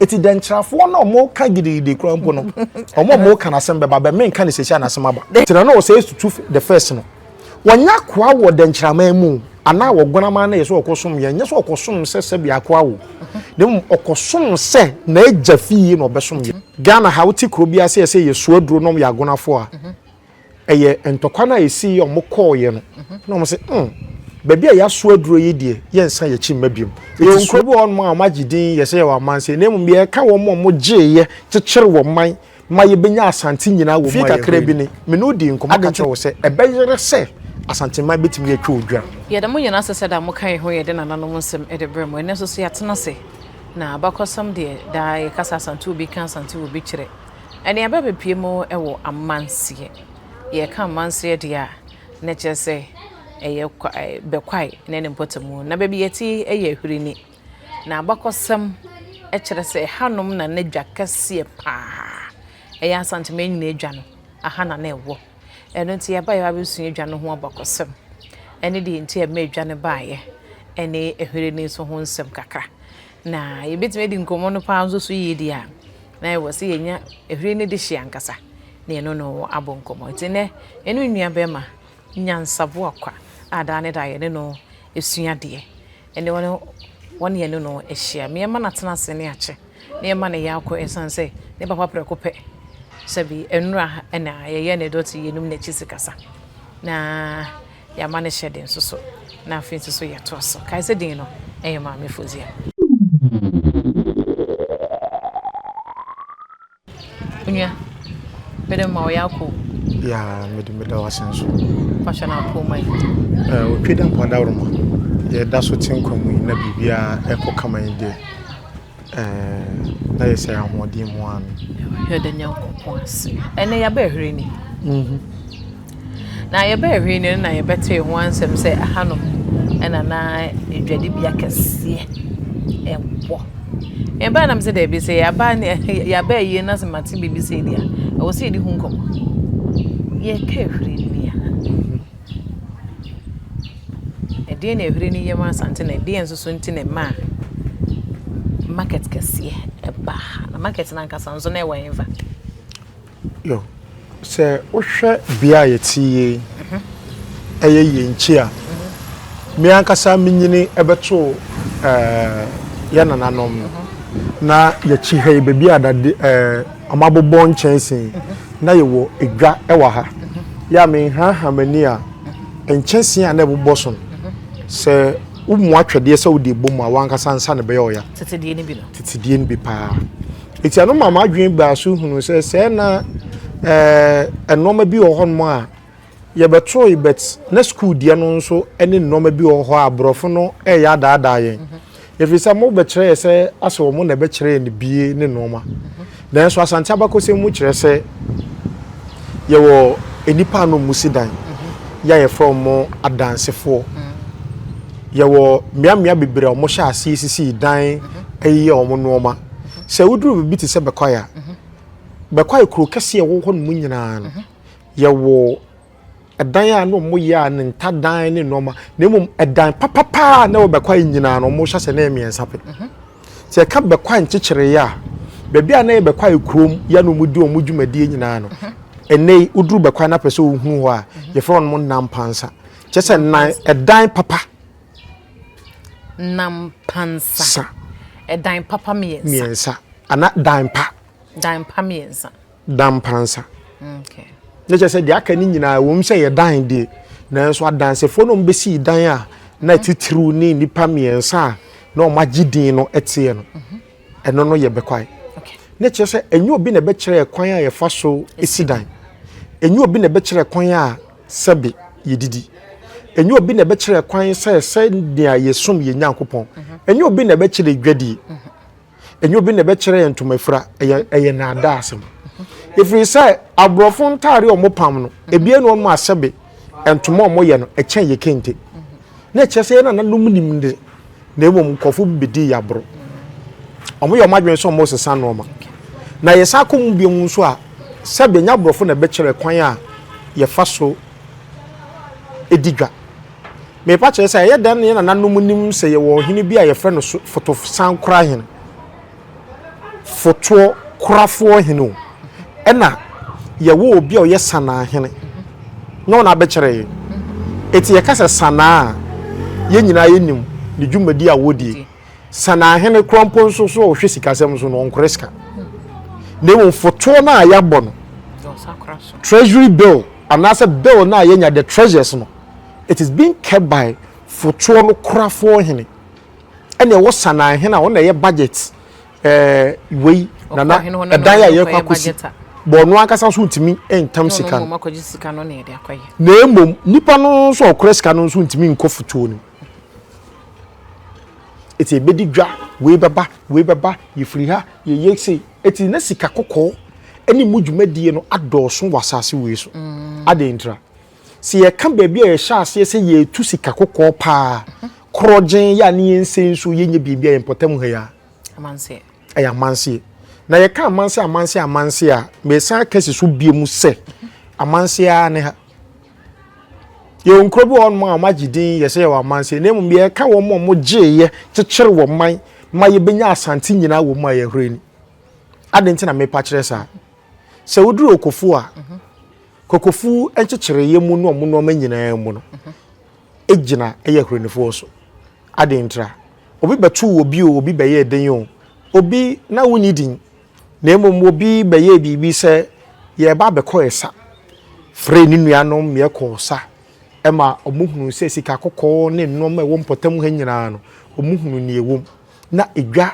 Eti dɛnkyerɛfoɔ no a wɔka gidigidi koraa mpo no, wɔn a wɔka n'asɛm bɛba bɛ, menka no seesei a n'asɛm aba. Tena no ɔsɛe to tu the first no, wɔnyɛ akoa wɔ dɛnkyerɛaman mu o, anaa wɔ Guanaman no yɛ sɛ ɔkɔsom yɛn, nyɛ sɛ ɔkɔsom sɛ sɛbea akoa o, na mmom ɔkɔsom sɛ n'agya fie na ɔbɛsom yɛn. Ghana ha, wote kuro biara sɛ yɛsɛ yɛsoa aduro na wɔyɛ agonafoɔ a, Ɛyɛ ntɔkwa no a ɛsii yɛ wɔn kɔɔ yɛ no na wɔn sɛ hmm baabi a yɛaso aduro yi deɛ yɛnsa yɛn akyi mma biom. Yɛwɔ nkuro bi wɔ hɔnom a wɔn agye din yɛ sɛ yɛwɔ amansan na mmom deɛ yɛka wɔn a wɔn gyee yɛ kyekyere wɔn man ma yɛbɛnya Asante nyinaa wɔ mu a yɛhwɛ yi. Fie kakra bi ni, me ne wo dii nkɔmmɔ ka kyerɛɛ wo sɛ ɛbɛyera sɛ Asante man bɛtumi atwa odwa. Yɛ dɛm nyinaa sɛ sɛdeɛ mo kae ho yɛ de nananom nsɛm de brɛ mo. Ɛnnɛ nso so yɛatena ase na abakɔsɛm deɛ daa yɛka sɛ Asante wɔ bi ka Asante wɔ bi kyerɛ. Nnuaba bepue mu wɔ amanseɛ. Yɛka amanseɛ deɛ a, na kyerɛ sɛ ɛyɛ kwa ɛɛ Bɛkwae ne ne mpɔtamu. Na baabi yɛte yɛ Ahwirini. Na abakɔsɛm kyerɛ sɛ ɛhanom na na dwa kɛseɛ pa ara. Ɛyɛ Asante Manyini dwa no, ɛha na na ɛwɔ. Ɛno nti yɛbaeɛ abɛsua dwa no ho abakɔsɛm ne deɛ nti a ɛmaa dwa no baeɛ ne Ahwirini nso ho nsɛm kakra. Na yɛbɛtumi adi nkɔmmɔ no paa nso so yie deɛ a, na ɛwɔ sɛ yɛnya ɛhwire no dehyeɛ ankasa na yɛne no abɔ nkɔmmɔ. Nti nnɛ, yɛne nua bɛrima Nyansa Boakwa a daa ne daa yɛne no sua adeɛ, ɛne wɔn wɔn yɛne no ahyia. Me ɛmma no atena ase ne akyɛ, me ɛmma no yɛ akɔ ɛsiane sɛ ne papa prɛko pɛ, sɛbi nnora na yɛyɛ ne dɔte yɛnum n'akyi sikasa. Na. yɛama no hyɛ den nso so, na afei nso so yɛtoa so. Kae sɛ din no yɛ Maame Fozia. Onua, mede me ma wo yɛakɔ o. Yaa, mede meda wo ase nso. Fa hyɛ no apoo ma yi. Eh, otwe da mpo adaworoma. Yɛda so te nkwa mu yi na biribiara ɛkɔ kama yi deɛ. Ɛɛɛ ayɛ sɛ ahoɔden mu ara no. Yɛda Nyankopɔn ase. Ɛnɛ yɛabɛɛ hwere ni. Mhm. Na yɛbɛɛ hwere ni no na yɛbɛtee ho ansɛm sɛ ɛhanom ɛna na adwadibea kɛseɛ ɛwɔ. Yɛbaa nam sɛ daabi sɛ yɛaba ne yɛabɛɛ yie na sɛ mate biribi sei deɛ a ɛwɔ sɛ yɛdi ho nkɔmmɔ. Yɛkaa hwere ni a. Ɛdeɛn na ɛhuri ne yam Asante na ɛdeɛn nso so nti na ɛmaa market kɛseɛ baa ha? Na market no ankasa nso na ɛwɔ hefa? Yo, sɛ wohwɛ bea a yɛte yie mhm. ɛyɛ yɛn nkyi a mhm. me ankasa menyini ɛbɛto eh, yɛ nananom no mhm. na yɛkyi ha yi baabi a dade eh, Wɔabobɔ nkyɛnse na yɛwɔ dwa wɔ ha. Yɛ a menhaahaa m'ani a, nkyɛnse a na ɛbobɔ so no, sɛ womoa twɛdeɛ sɛ wode bɔ mu a, w'ankasa nsa na ɛbɛyɛ ɔya. Tete deɛ no bi no. Tete deɛ no bi paa. Enti ɛno maa m'adwene baa so hunuu sɛ sɛɛ na ɛɛ nneɛma bi wɔ hɔnom a Yɛbɛtoe but na sukuu deɛ no nso ne nnoɔma bi wɔ hɔ a borɔfo no reyɛ adaadaa yɛn. Ɛfiri sɛ mobɛkyerɛ yɛ sɛ asɛ wɔn na ɛbɛkyerɛ yɛn abie ne nnoɔma. Nanso Asante abakɔsɛm mu kyerɛ sɛ yɛwɔ nnipa a na wɔn si dan yɛ a yɛfrɛ wɔn adansefoɔ. Yɛwɔ mmeammea bebree a wɔn hyɛ aseɛ sisi dan ɛyeyɛ wɔn nnoɔma. Sɛ woduru baabi te sɛ Bɛkwae a, Bɛkwae kuro kɛseɛ ɛwɔ hɔ nom nyinaa no. Yɛwɔ dan a na ɔmo yɛ a ne nta dan ne nnoɔma na mmom ɛdan papapaa a na ɛwɔ bɛkwae nyinaa no ɔmo hyɛ sɛ na ɛyɛ mmiɛnsa pɛ mhm. sɛ ɛka bɛkwae nkyekyereeɛ a baabi a na ɛyɛ bɛkwae kurom yɛ na ɔmo di ɔmo dwumadie nyinaa no mhm. ɛnɛ yi woduru bɛkwae na pɛ sɛ ohunu hɔ a mhm. yɛfrɛ wɔn mo nampansa kyɛ sɛ nan ɛdan papa nampansa ɛdan papa mmiɛnsa ana dan pa dan pa mmiɛnsa da mpansa. Ne kyɛ sɛ deɛ aka no nyinaa wɔm sɛ yɛ dan deɛ nanso adansefoɔ no bɛsii dan a na titiriw ne nnipa mmiɛnsa a na wɔn agye din no teɛ no mhm. ɛno no yɛ bɛkwae ne kyerɛ sɛ ɛnyɛ obi na ɛbɛkyerɛ kwan a yɛfa so si dan ɛnyɛ obi na ɛbɛkyerɛ kwan a sɛbe yɛdidi ɛnyɛ obi na ɛbɛkyerɛ kwan sɛ sɛnea yɛsom yɛ nyankopɔn mhm. ɛnyɛ obi na ɛbɛkyerɛ dwadie mhm. ɛnyɛ obi na ɛbɛkyerɛ yɛn ntoma fira ɛyɛ ɛyɛ naadaa asɛm ɛfiri sɛ aborɔfo ntaare a wɔpam no ebi ɛna wɔn asɛbe ntoma a wɔyɛ no ɛkyɛn yɛ kente na ɛkyerɛ sɛ yɛn na nanum nim de na mmom nkɔfo bi bedi yɛ aboro wɔn yɛ wɔn adwene sɛ wɔn sesa nneɛma na yɛsan kɔ mu bi mu nso a sɛbi nya aborɔfo na ɛbɛkyerɛ kwan a yɛfa so edi dwa. Merepa kyerɛ sɛ, ɛyɛ dɛn na yɛn nananom nim sɛ yɛwɔ ɔhene bi a yɛfrɛ no Fotosankorahene, Fotoɔ Korafoɔ Hene o, ɛna yɛwɔ obi a ɔyɛ Sanaa Hene na ɔna abɛkyerɛ yɛn. Eti yɛka sɛ Sanaa a, yɛn nyinaa yɛnim ne dwumadi a wɔdie. Sanaa Hene koraa mpo nso so a ɔhwɛ sikasɛm so no, ɔnkorɛ sika. Na mmom fotoɔ no a yɛabɔ no, Treasury Bill anaasɛ Bill no a yɛanya, the Treasures no, It is being kept by Fotoɔ no korafoɔ hene ɛna ɛwɔ Sanaa hene a ɔno na ɛyɛ budget ɛɛ wei nana ɛdan a yɛkɔ akɔsi bɔ ɔno ankasa nso ntumi ntam sika no na emom nipa no nso ɔkora sika no nso ntumi nkɔ Fotoɔ no eti ebedi dwa wei bɛba wei bɛba yɛfiri ha yɛyɛ sei eti na sika kɔkɔɔ ɛne mu dwumadie no adɔɔso wɔ asaase wei so mm. adeɛ ntira. Sɛ yɛka baabi a yɛhyɛ aseɛ sɛ yɛretu sika kɔkɔɔ paa, korɔgyen, yɛ a ne yɛnsɛ nsuo, yɛnyɛ biribi a yɛn mpɔtam ha yi a, Amanseɛ. ɛyɛ amanseɛ. Na yɛka amanseɛ amanseɛ amanseɛ a, meresan akasi so bio mu sɛ, amanseɛ ara ne ha. Yɛwɔ nkuro bi wɔ hɔnom a wɔagye din yɛ sɛ yɛwɔ amanseɛ, na mmom yɛreka wɔn a wɔgyeeɛ kyekyere wɔn man ma yɛbɛnya asante nyinaa wɔ mu a yɛhwere ni. Adɛn nti na merepa kyerɛ saa? Sɛ woduru Okofo a, Kwakofu nkyekyereyɛ mu ne ɔmo nnoɔma nyinaa mu no gyina yɛ Ahuranifoɔ so. Adɛn ntira? Obi bɛtoo obi o, obi bɛyɛɛ den o, obi na wonni din, na mmom obi bɛyɛɛ biribi sɛ yɛɛba abɛkɔ ɛsa, free ne nuanom meɛ kɔɔ sa, ɛma ɔmo hunuu sɛ sika kɔkɔɔ ne nnoɔma a ɛwɔ mpɔtam ha nyinaa no, ɔmo hunuu neɛ ɛwɔ mu. Na edwa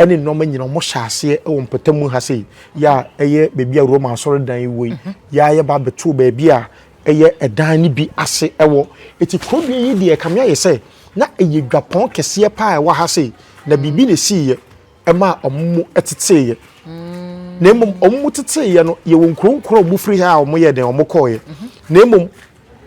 ne nnoɔma nyina ɔmo hyɛ aseɛ wɔ mpɔtam mu ha sei yɛ a ɛyɛ baabi a Roma asɔredan yi wɔ yi yɛ a yɛ ba bɛ too baabi a ɛyɛ ɛdan no bi ase wɔ ɛti kurodua yi deɛ ɛkame ayɛ sɛ na ɛyɛ dwapɔn kɛseɛ paa ɛwɔ ha sei na biribi na ɛsii yɛ ɛmaa ɔmo mo ɛtetee yɛ na mmom ɔmo mo tetee yɛ no yɛ wɔ nkuro nkuro a ɔmo firi ha a ɔmo yɛ dɛn ɔmo kɔɔ yɛ na mmom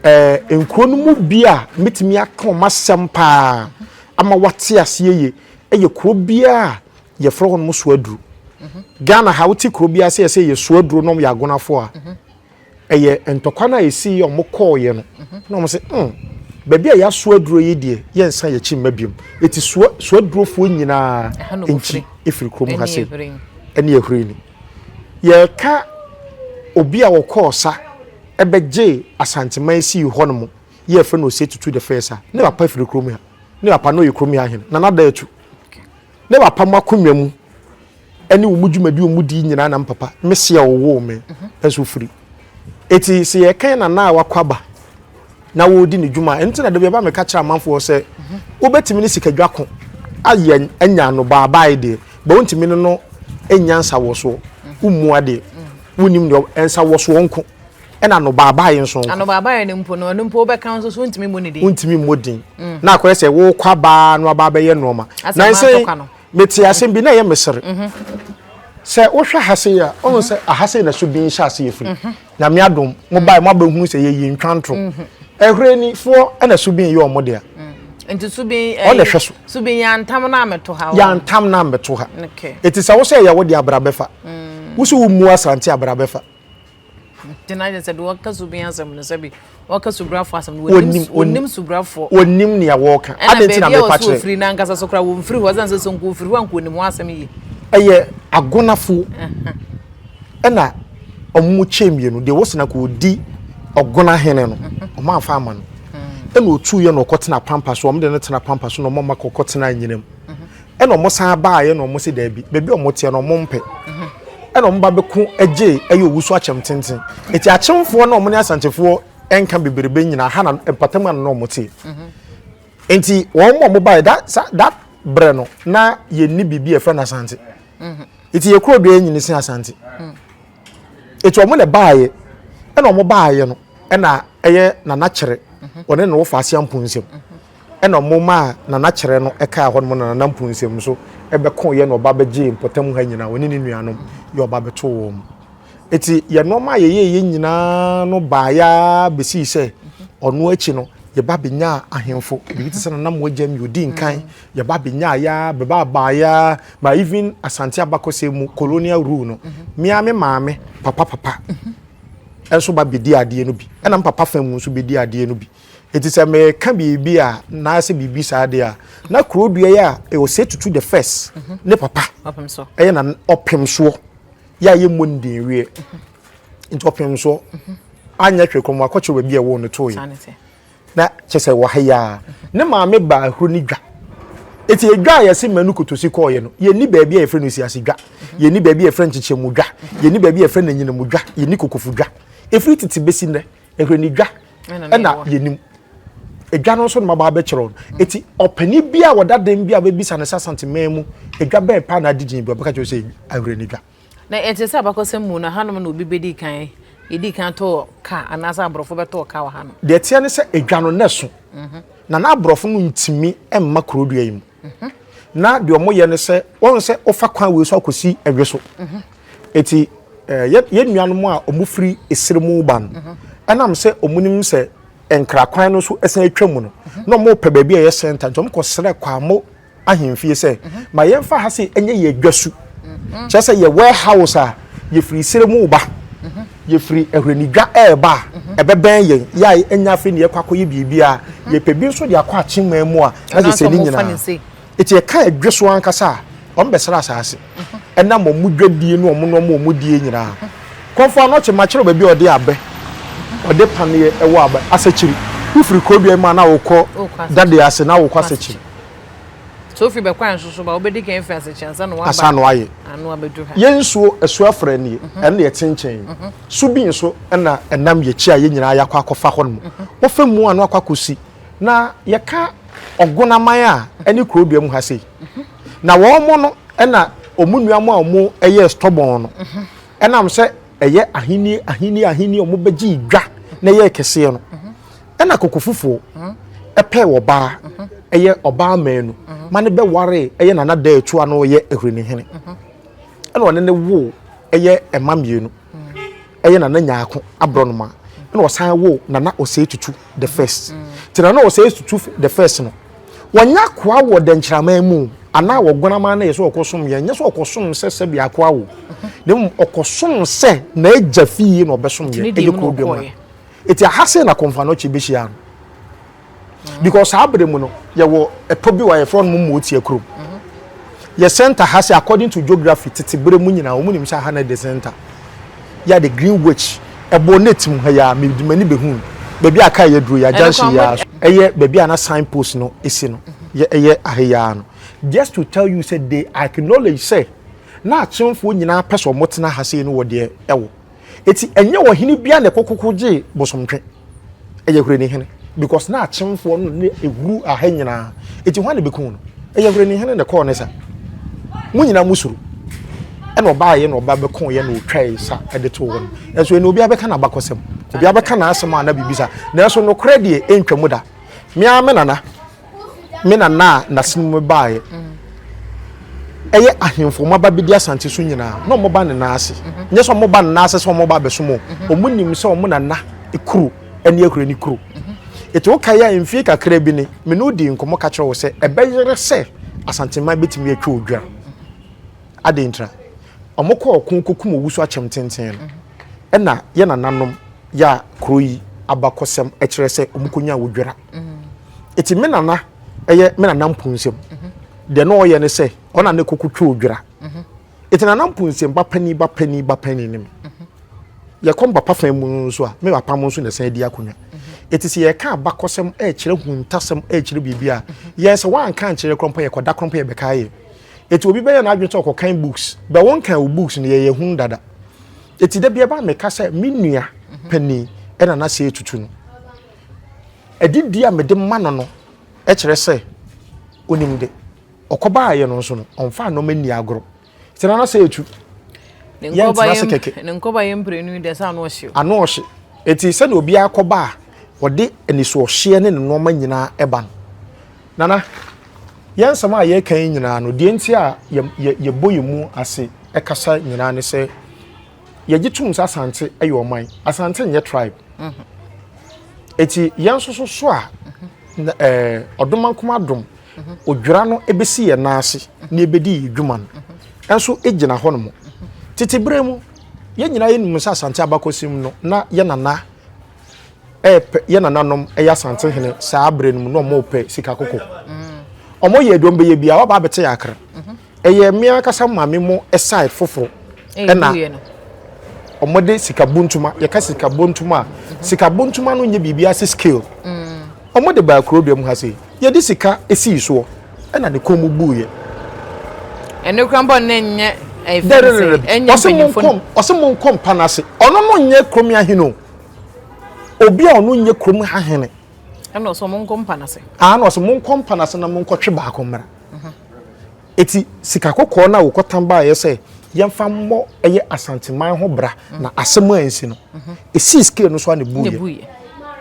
Ɛɛ, nkuro no mu bi a mɛtumi aka wɔn asɛm paa ama wate aseɛ yie yɛ kuro bi a yɛfrɛ hɔ nom Soaduro. Mhm. Ghana ha wote kuro bi a sɛ yɛsɛ yɛ Soaduro nom yɛ agonafoɔ a, mhm. ɛyɛ ntɔkwa no a ɛsii yɛ wɔn kɔɔeɛ no mhm. na wɔn sɛ, mm, baabi a yɛaso aduro yi deɛ yɛnsa yɛkyi mma biom ɛti soadurofoɔ nyinaa nkyi ɛfiri kurom ha sɛ ɛne ɛhwere ni yɛreka obi a ɔkɔɔ sa bɛgyee Asanteman sii hɔ no mo yɛ yɛfrɛ no Osei Tutu the first a ne papa firi kurom ha. Ne papa no yɛ kurom ha hene, Nana Daatu. Ne papa mo akonnwa mu ne wɔn dwumadi wɔn di nyinaa na me papa, me se a ɔwoo me nso firi. Eti sɛ yɛkan nana a wakɔ aba na wɔredi ne dwuma a, ɛno nti na da bi ɛba meka kyerɛ amanfoɔ sɛ wobɛtumi ne sikadwa ko ayɛ anya no baabae deɛ ba wontumi ne no nya nsawɔsoɔ wommua deɛ wonnim deɛ nsawɔsoɔ nko ɛna no baabae nso nko ano baabae no mpo no ɛno mpo wobɛka nso so wontumi mmɔ ne din wontumi mmɔ din mm. na akɔyɛ sɛ wokɔ abaa no aba abɛyɛ nnoɔma nansɛ Metee asɛm bi na ɛyɛ me sere. Sɛ wohwɛ ha sei a, wohu sɛ aha sei na so din hyɛ ase yɛ firi. Nyame adom, mobae mo abɛhunu sɛ yɛyɛ ntwa ntoro. Ɛhwerɛnifoɔ na so bin yɛ wɔn dea. Nti so bin ɛyɛ so bin yɛ antam na ameto ha. Yɛ antam na ameto ha. Eti sɛ wo sɛ ɛyɛ wo dea abra bɛfa. Wo so wo mua asante abra bɛfa. nti na ayɛ sɛ deɛ ɔka su bin asɛm no sɛbi ɔka subrafoɔ asɛm no wɔnim wɔnim subrafoɔ wɔnim nea wɔka ɛna baabi a wɔso ofiri na ankasa so kora wɔmfiri hɔ ɛsan sɛ so nko ofiri hɔ a nko onim ho asɛm yie ɛyɛ agonafoɔ ɛna ɔmo kyɛ mmienu deɛ wɔsena kɔ ɔdi ɔgona hene no ɔmo anfa ama no ɛna otu yɛ na ɔkɔ tena pampa so ɔmo de no tena pampa so na ɔmo ama kɔkɔ tena anyinam ɛna wɔsan baeɛ na wɔn se daabi baabi a wɔteɛ no wɔn mpɛ ɛna wɔn ba bɛko gye ɛyɛ owusu akyɛm tenten eti akyemfoɔ na wɔn ne asantefoɔ ɛnka bebrebe nyinaa ha na mpatam ano na wɔn te nti wɔn mu a wɔn baeɛ that that brɛ no na yɛn ni biribi ɛfɛ na asante eti yɛ kuro do yɛn nyini si asante eti wɔn na baeɛ ɛna wɔn baeɛ no ɛna ɛyɛ nana kyerɛ wɔn ne na wɔfa aseɛ mpo nsɛm. Ɛna ɔmo maa Nana Kyerɛ no kaa hɔnom na Nana Mpunsem nso bɛkoo yɛ na ɔba bɛgyee mpɔtam ha nyinaa, ɔne ne nuanom yɛ ɔba bɛtoo wɔn. Eti yɛ nnoɔma a yɛyɛɛyɛ nyinaa no baeɛ ara bɛsii sɛ ɔno akyi no yɛba bɛnyaa ahemfo, biribi te sɛ Nana Moagyamyi ɔdii nkan, yɛba bɛnyaeɛ ara, bɛbaa baeɛ ara ma even Asante abakɔsɛm mu colonial rule no, me ara me maame papa papa nso ba bɛdii adeɛ no bi, ɛna me papa fa mu nso bɛdii adeɛ no bi. Enti sɛ mereka biribi a anaasɛ biribi saa deɛ a, na kuro dua yi a ɛwɔ sɛ tutu the first mhm. ne papa ɛyɛ na ɔpem soɔ yɛ a yɛmmɔ ne din wieɛ mhm. nti ɔpem soɔ mhm. anyɛ hwɛ kɔm akɔkyerɛ baabi a ɛwɔ no too yɛ na kyɛ sɛ wɔ ha yi a ne maame baa ahuro ne dwa eti edwa a yɛsi mɛnu kotosi kɔɔyɛ no yɛni baabi a yɛfrɛ no esiase dwa yɛni baabi a yɛfrɛ no nkyekyɛmu dwa yɛni baabi a yɛfrɛ no enyinamu dwa yɛni kokofo dwa efiri tete besi nnɛ ɛhwɛ ne dwa ɛna yɛnim edwa no nso na maba abɛkyerɛ no mm. eti ɔpɛni bi a wɔda den bi a wɔbɛbisa no sɛ asanteman mu edwa bɛn paa na adi gyina bi ɔbɛka kyerɛ sɛ ahwere ne dwa na ɛte sɛ abakɔsɛm mu na hanom na obi bɛdi kan yɛdi kan tɔɔ ka anaasɛ aborɔfo bɛtɔɔ ka wɔ hanom deɛ teɛ ne sɛ edwa no na ɛso mhm. na na aborɔfo no ntumi mma kurodua yi mu na deɛ wɔyɛ ne sɛ wɔn sɛ wɔfa kwan wei so akɔsi ɛdwe so eti ɛɛ yɛn nuanom a wɔn firi esiri mu ba no ɛnam sɛ wɔn nim sɛ nkra kwan no so ɛsɛn atwa mu no na wɔn pɛ baabi a ɛyɛ sɛnta nti wɔn kɔ srɛ kwamo ahemfie sɛ ma yɛn fa ha se ɛnyɛ yɛ adwa su kyerɛ sɛ yɛ warehouse a yɛfiri esiri mu ba. Yɛfiri Ahwernidwa reba a, ɛbɛbɛn yɛn. Yɛ a ɛnyɛ afei na yɛkɔ akɔyɛ biribi a, yɛpɛ bi nso de akɔ akyemmaa mu a, na sɛ sɛ ne nyinaa. Eti ɛka ɛdwe so ankasa a, wɔbɛsra asaase. Ɛnam wɔn dwadie ne wɔn nneɛma a wɔdie nyinaa. Kɔmfo Anɔkye, makyerɛ wo baabi a wɔde abɛ, wɔde paneɛ ɛwɔ abɛ, Asakyiri. Wofiri Krodua yi mu a na wokɔ Dadeɛ ase na wokɔ Asakyiri. Sɛ wofi bɛkwae nso so ba, wobɛdi kan afi asekye ansa na wɔaba ano abɛdu ha. Yɛn nsuo asu afrɛ nie, ɛno deɛ ɛte nkyɛn yi. So bi nso na ɛnam yɛn akyi a yɛn nyinaa yɛakɔ akɔfa hɔ nom. Wɔfa mu ano akɔ akɔsi. Na yɛka Ɔgonaman a ɛne Kurodua mu ha sei. Na wɔn no na wɔn nua mo a wɔn yɛ stubborn no, ɛnam sɛ ɛyɛ ahenni ahenni ahenni wɔn bɛgye dwa na ɛyɛ kɛseɛ no. Ɛna koko fufuo ɛpɛɛ ɔbaa ɛyɛ ɔbaa mɛnu ma ne bɛ waree ɛyɛ nana dɛɛ tua no yɛ ahureni hene ɛna ɔne ne woo ɛyɛ ɛma mienu ɛyɛ nana nyaako abrɔnoma ɛna ɔsan woo nana ɔsɛe tutu the first te nana ɔsɛe tutu the first no wɔnyɛ akoa wɔ dɛnkyiraman mu anaa wɔ guanaman na yɛ sɛ ɔkɔ som yɛ nyɛ sɛ ɔkɔ som sɛ sɛ bi akoa wo na mmom ɔkɔ som sɛ na ɛgya fie na ɔbɛ som yɛ ɛyɛ kuro dwom Eti aha sei na Konfanochi behyiaa no because saa bere mu no yɛwɔ ɛpɔ bi wɔ a yɛfrɛ no Mmotia kurom. Yɛ center ha sɛ according to geography tete bere mu nyinaa wɔn nim sɛ aha na the center. Yɛ de Greenwich ɛbɔ net mu ha yi ara mede m'ani behu baabi a car yi aduro yi a junction yi ara so. Ɛyɛ baabi a na sign post no si no yɛ ɛyɛ aha yi ara no. Just to tell you sɛ they acknowledge sɛ na Akyemfoɔ nyinaa pɛ sɛ wɔtena ha sei no wɔ deɛ ɛwɔ. Eti ɛnyɛ ɔhene biara na ɛkokoko gyee Bosomtwe. Ɛyɛ Hwerinihene because na akyemfoɔ no ne ɛhuru aha nyinaa. Eti hwan na bɛkuu no? Ɛyɛ Hwerinihene na ɛkɔɔ ne sa. Mo nyinaa mo suro. Ɛna ɔbaeɛ na ɔba bɛkooeɛ na ɔtwae sa de too hɔ no. Nanso ɛnna obiara bɛka n'abakɔsɛm. Obiara bɛka n'asɛm a na biribi saa. Nanso nokorɛ deɛ ɛntwam da. Me ara me nana. me nana a n'asene mu baeɛ ɛyɛ ahemfo wɔn aba bɛdi asante so nyinaa na wɔn ba ne nan ase mhm. nyɛ sɛ wɔn ba ne nan ase sɛ wɔn ba abɛsom o mhm. wɔn nim sɛ wɔn nana kuro ɛne akura ne kuro mhm. etu woka yɛ a mfie kakra bi ne me ne odi nkɔmɔ ka kyerɛ wo sɛ ɛbɛyere sɛ asanteman bɛtumi atwa odwa adeɛ ntina wɔn kɔ ɔko kokum owusu akyɛm tenten no ɛna yɛ nananom yɛ a kuro yi abakɔsɛm ɛkyerɛ sɛ wɔn kɔnya odwira. ɛti me nana ɛyɛ me nana mpunsɛm deɛ na ɔyɛ ne sɛ ɔna ne koko twɛ odwira ɛti nana mpunsɛm ba pani ba pani ba pani ne me yɛkɔ mbapa fan mu nso a me papa mo nso na ɛsan di akonnwa ɛti sɛ yɛka abakɔsɛm ɛkyerɛ huntasɛm ɛkyerɛ biribi a yɛn sɛ wanka nkyerɛ korɔ mpo yɛkɔda korɔ mpo yɛbɛka yɛ ɛti obi bɛyɛ n'adwene sɛ ɔkɔkan books bɛ wɔn kan o books no yɛyɛ hun dada ɛti da bi ɛba meka sɛ me nua panin ɛna na sɛ ɛtutu no Adidie a mede ma no no kyerɛ sɛ ɔnim de. Ɔkɔbaeɛ no nso no, ɔmfaa nneɛma nni agorɔ. Sɛ nana sɛ etu. Yɛntena ase kɛkɛ. Ne nkɔba yɛ mprenu deɛ sɛ ano ɔhye. Ano ɔhye. Eti sɛdeɛ obiara kɔba a ɔde anisoɔhyeɛ ne ne nneɛma nyinaa ɛba no. Nana, yɛn nsɛm a yɛreka yi nyinaa no, deɛ nti a yɛbɔ yɛn mu ase kasa nyinaa ne sɛ, yɛgye tom sɛ asante yɛ ɔman asante nyɛ tribe ɛti mhm. yɛn nso so so a mhm. eh, ɔdoma nkoma adom mhm. odwira no ɛbɛsi yɛn nan ase na ɛbɛdi yɛ dwuma no ɛnso ɛgyina hɔ no mu tete berɛ mu yɛn nyinaa yɛnim sɛ asante abakɔsɛm no na yɛ nana ɛɛpɛ yɛ nananom ɛyɛ asante hene saa berɛ no mu na ɔmo pɛ sika koko ɔmo yɛ aduom bɛyɛ bia ɔba abɛte yɛ akra Ɛyɛ me ankasa maame mo side foforo ɛna wɔn de sika buntuma yɛka sika buntuma mhm. sika buntuma no nyɛ biribi ase scale wɔn mm. de baa kuro dua mu ha se yɛde sika esi soɔ ɛna ne kɔn mu buu yɛ. ɛne kura bɔ ne nyɛ ɛyɛ fɛn sɛ ɛnyɛ mpanyinfo no. ɔsɛ mo nkɔ mpa n'ase ɔno no nyɛ kurom ahene o obi a ɔno nyɛ kurom ahene. ɛna ɔsɛ mo nkɔ mpa n'ase. ɛna ɔsɛ mo nkɔ mpa n'ase na mo nkɔ twe baako mmra. Eti sika kɔkɔɔ no a wɔkɔtan baeɛ sɛ yɛmfa mmɔ ɛyɛ Asanteman ho bra na asɛm a ansi no, ɛsii scale no so a na ɛbuiɛ.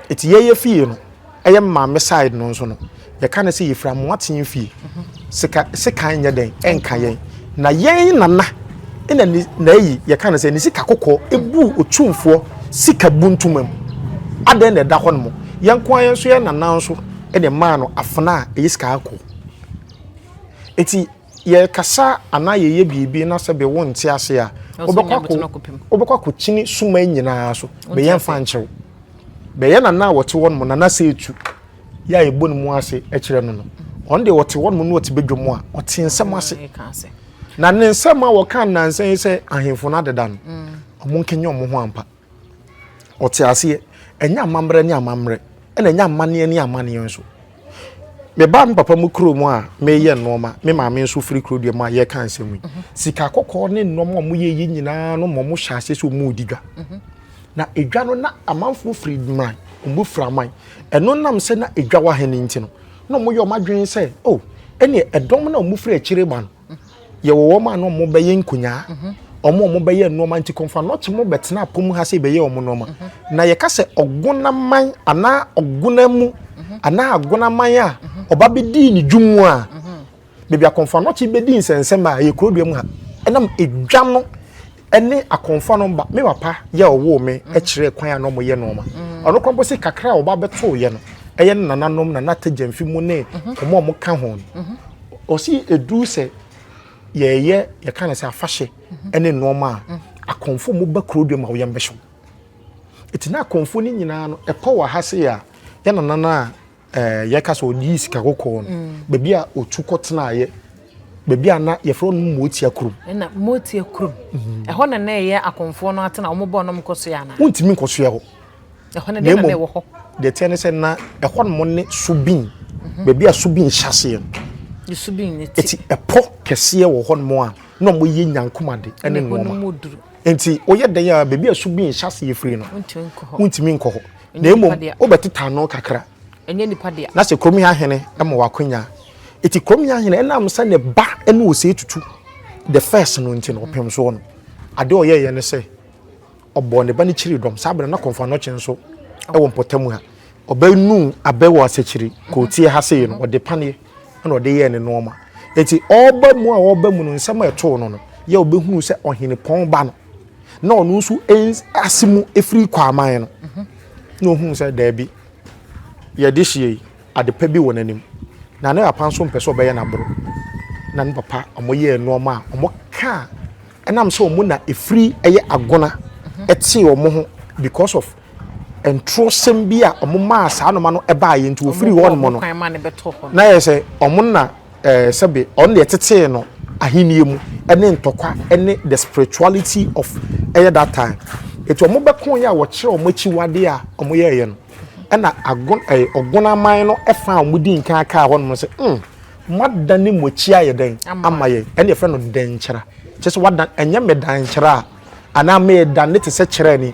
Eti yɛn yɛn fie no, ɛyɛ me maame side no nso no, yɛka no sɛ yɛfiri Amoaten fie. Sika sekan nyɛ dɛn ɛnka yɛn. Na yɛn nana na ne na ayi yɛka no sɛ ne sika kɔkɔɔ ɛbuu Otumfoɔ sika bu ntoma mu. Adɛn na ɛda hɔnom? Yɛn nko ara yɛn nso yɛn nana nso na ɛmaa no afena a ɛyɛ sika kɔkɔɔ. Eti yɛkasa anaa yɛyɛ biribi na sɛ be wo nte ase a, wobɛkɔ akɔkyini suma nyinaa so. Bɛyɛ mfa nkyerɛw. Bɛyɛ nana a wɔte hɔ nom, nana sɛ etu, yɛ a yɛbɔ ne mu ase kyerɛ no no. Ɔno deɛ ɔte hɔ nom na ɔte badwam a, ɔte nsɛm ase. Na ne nsɛm a wɔka nnansa yi sɛ ahemfo no adeda no, wɔnkenye wɔn ho ampa. Ɔte aseɛ, ɛnyɛ amammerɛ ne amammerɛ, ɛna ɛnyɛ amanneɛ ne amanneɛ nso. Meba me papa mu kuro mu a meyɛ nneɛma, me maame nso firi kuro deɛ mu a yɛka nsɛm yi. Mhm. Sika kɔkɔɔ ne nneɛma a wɔyɛ yi nyinaa no ma wɔhyɛ aseɛ sɛ wɔredi dwa. Mhm. Na edwa no na amanfoɔ firi mmeran, wɔbu firi aman. Ɛno nam sɛ na edwa wɔ ha no nti no, na wɔyɛ wɔn adwene sɛ, o, oh, ɛneɛ ɛdɔm no a wɔfiri akyire ba no, yɛwɔ wɔn a na wɔn bɛyɛ nkonyaa wɔn a wɔn bɛyɛ nneɛma nti kɔnfa na ɔkye wɔn bɛtena apɔ mu ha sɛ bɛyɛ wɔn nneɛma na yɛka sɛ ɔgonaman anaa ɔgona mu anaa agonaman a ɔba bɛdii ne dwom mu a baabi akɔnfa na ɔkye bɛdi nsɛnsɛm a yɛ kurodua mu ha ɛnam edwa no ne akɔmfo no mma me papa yɛ a ɔwoo me mm. kyerɛɛ kwan a na wɔyɛ nneɛma mm. ɔno kora mpo se kakra a wɔba bɛtoo yɛ no ɛyɛ ne nananom na na tagyamfi mu ne mhm. wɔn a wɔka ho no mhm. ɔsi edu sɛ yɛyɛ yɛka no sɛ afahyɛ mhm. ne nneɛma a akɔmfo mu ba kuro dua ma wɔyɛ mbɛhyɛw eti na akɔmfo no nyinaa no ɛpɔ wɔ ha se a yɛ nanana a Eh, yɛka sɛ ɔyii sika kɔkɔɔ no mm. baabi a ɔtu kɔtenaeɛ baabi a na yɛfrɛ no motia kurom ɛna motia kurom mhm. ɛhɔ na na ɛyɛ akɔmfoɔ no atena wɔmobɔ nom kɔsoɛ anaa wontumi nkɔsoɛ hɔ ɛhɔ no deɛ na ɛwɔ hɔ deɛ teɛ ne sɛ na ɛhɔ nom ne subin mhm. baabi a subin hyɛ aseɛ no subin ne ti ɛti ɛpɔ kɛseɛ wɔ hɔ nom a na wɔyɛ nyankomade ɛne nnoɔma nti woyɛ dɛn a baabi a subin hyɛ aseɛ firi no wontumi nkɔ hɔ na mmom wobɛteta ano kakra ɛnyɛ nipa dea. na sɛ kurom ahene ma wakonya eti kurom ahene ɛnam sɛ ne ba ɛna ose tutu the first no nti na ɔpem soɔ no ade ɔyɛ yɛ ne sɛ ɔbɔ ne ba ne kyiri dɔm saa abena na kɔnfa nɔkye nso ɛwɔ mpɔtam ha ɔbɛnu abɛ wɔ asɛkyiri kootie ha sei no ɔde paneɛ ɛna ɔde yɛɛ ne nneɛma eti ɔreba mu a ɔreba mu no nsɛm a ɛtoo no no yɛ ɔbɛhunu sɛ ɔhenepɔn ba no na ɔno nso ase mu efiri kwaman no na ohunu sɛ daabi yɛde hyia yi adepa bi wɔ n'anim na ne papa nso mpɛ sɛ ɔbɛyɛ n'aboro na ne papa wɔyɛɛ nneɛma a wɔkaa ɛnam sɛ wɔn na efiri ɛyɛ agona ɛte wɔn ho because of ntorɔsɛm bi a wɔmaa saa noma no baeɛ nti wɔfiri hɔ nom no na yɛ sɛ wɔn na eh, sɛbe wɔn deɛ tetee no ahennie mu ne ntɔkwa ne the spirituality of ɛyɛ that time ɛti wɔn bɛko yɛ a wɔkyerɛ wɔn akyiwadeɛ a wɔn yɛɛyɛ no ɛna agon ɛyɛ ɔgon aman no ɛfa a wɔn di nkan akaa hɔ nom sɛ mm mada ne mo akyi ayɛ dɛn ama yɛn ɛna yɛfrɛ no dɛnkyerɛ kyɛ sɛ wada ɛnyɛ mɛdankyerɛ a anaa mɛdan ne te sɛ kyerɛ ni